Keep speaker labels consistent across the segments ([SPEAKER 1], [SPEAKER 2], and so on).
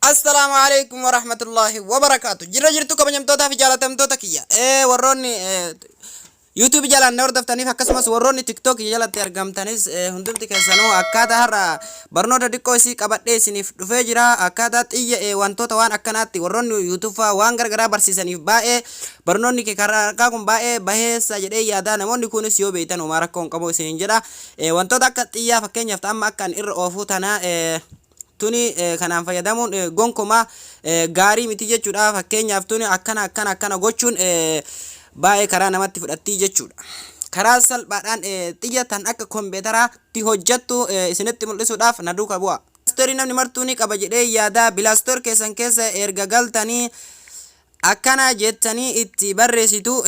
[SPEAKER 1] Assalaamu alaikum warahmatullahi wabarakaatu jirra jirtu kabajamtootaa fi jaalatamtoota kiyya ee warroonni YouTube jalaan na hordoftaniif akkasumas warroonni TikTok jalatti argamtanis ee, hundumti keessanuu akkaataa har'a barnoota diqqoo isii qabadhee isiniif dhufee jira akkaataa xiyya ee wantoota waan akkanaatti warroonni YouTube faa waan gargaraa barsiisaniif baay'ee barnoonni kee karaa harkaa kun baay'ee baheessa jedhee yaadaa namoonni kunis yoo beektan homaa rakkoo hin qabu isiniin jedha ee, wantoota akka xiyyaa fakkeenyaaf ta'amma akka an irra oofuu tanaa ee, tuni kanaan fayyadamuun gonkumaa gaarii miti jechuudha. Fakkeenyaaf tuni akkana akkana akkana gochuun baay'ee karaa namatti fudhattii jechuudha. Karaa salphaadhaan xiyya tan akka kompiitaraatti hojjattu isinitti mul'isuudhaaf na duuka bu'a. Bilaastorii namni martuu ni qaba jedhee yaada. Bilaastor keessan keessa erga galtanii akkana jettanii itti barreessitu.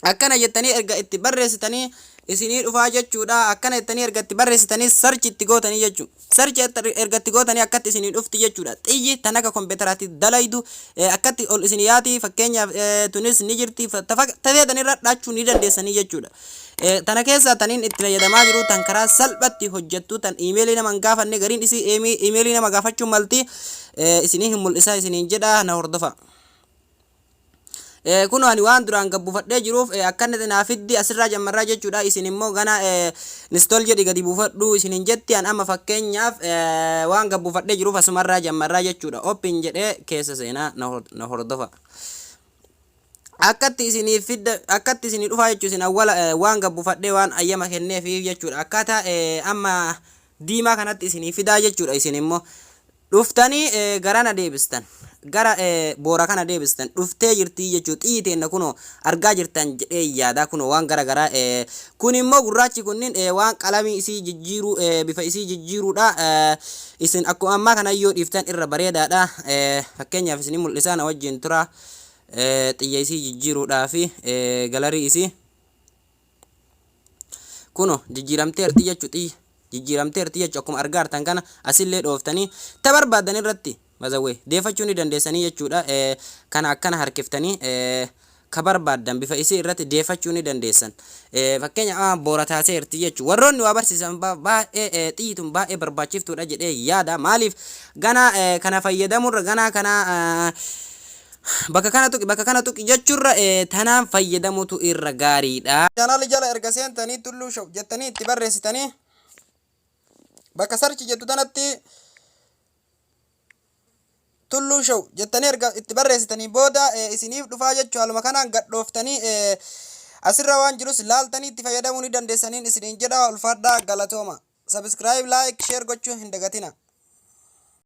[SPEAKER 1] Akkana jettanii erga itti barreessitanii isinii dhufaa jechuudha. Akkana jettanii erga itti barreessitanii search itti gootanii jechuudha. Search erga- erga itti gootanii akkatti isinii dhufti jechuudha. Xiyyi tan akka kompiitaraatti dalaydu eh, akkatti ol isinii yaati fakkeenyaaf eh, tunis ni jirti fa- ta fak- ta feetan irra dhaachuu ni dandeessanii jechuudha. Eh, Tana keessaa taniin itti fayyadamaa jiru tan karaa salphatti hojjettu tan iimeelii nama hin gaafanne gariin isii iimeelii nama gaafachuu malti eh, isinii hin mul'isaa isiniin jedha na hordofaa. Ee, kunoo ani waan duraan gad buufadhee jiruuf ee, akkanatti naa fiddi asirraa jammarraa jechuudha. Isin immoo ganaa ee, install jedhi gadi buufadhu isin hin jetti an amma fakkeenyaaf ee, waan gad buufadhee jiruuf asumarraa jammarraa jechuudha. Open jedhee keessa seenaa na hor- na hordofa. Akkatti isiniif fidda akkatti isinii dhufaa jechuun isin awwala ee, waan gad buufadhee waan ayyama kenneefiif jechuudha. Akkaataa ee, amma diimaa kanatti isinii fidaa jechuudha isin immoo. Dhuftanii gara na deebistan, gara boora kana deebistan, dhuftee jirtii jechuu, xiyyi teenna kunoo argaa jirtan jedheen yaada, kunoo waan gara garaa, kun immoo gurraachi kunniin waan qalamii isii jijjiiruu, bifa isii jijjiiruudha, isin akkuma ammaa kana yoo dhiiftan irra bareedaadha, fakkeenyaaf isinii mul'isaa na wajjiin turaa, xiyya isii jijjiiruudhaafi galarii isii. Kuno jijjiiramteerti jechu xiyya jijjiiramteerti jechu akkuma argaartan kana asillee dhooftanii ta barbaadan irratti mazawwee deefachuu ni dandeessanii jechuudha kana akkana harkiftanii ka barbaadan bifa isii irratti deefachuu ni dandeessan fakkeenya a boora taateerti jechu warroonni waa barsiisan baay'ee xiyyi tun baay'ee barbaachiftuudha jedhee yaada maaliif ganaa kana fayyadamurra ganaa kana Bakka kana tuqi, bakka kana tuqi jechurra tanaan fayyadamutu irra gaariidha. Channel jala erga seentanii Tulluu Show jettanii itti barreessitanii bakka search jettu tanatti Tulluu Show jettanii erga itti barreessitanii booda isiniif dhufaa jechuu haaluma kanaan gadhooftanii asirra waan jirus laaltanii itti fayyadamuu ni dandeessaniin isiniin jedha ulfaadhaa galatooma. Subscribe, like, share gochuu hin dagatina.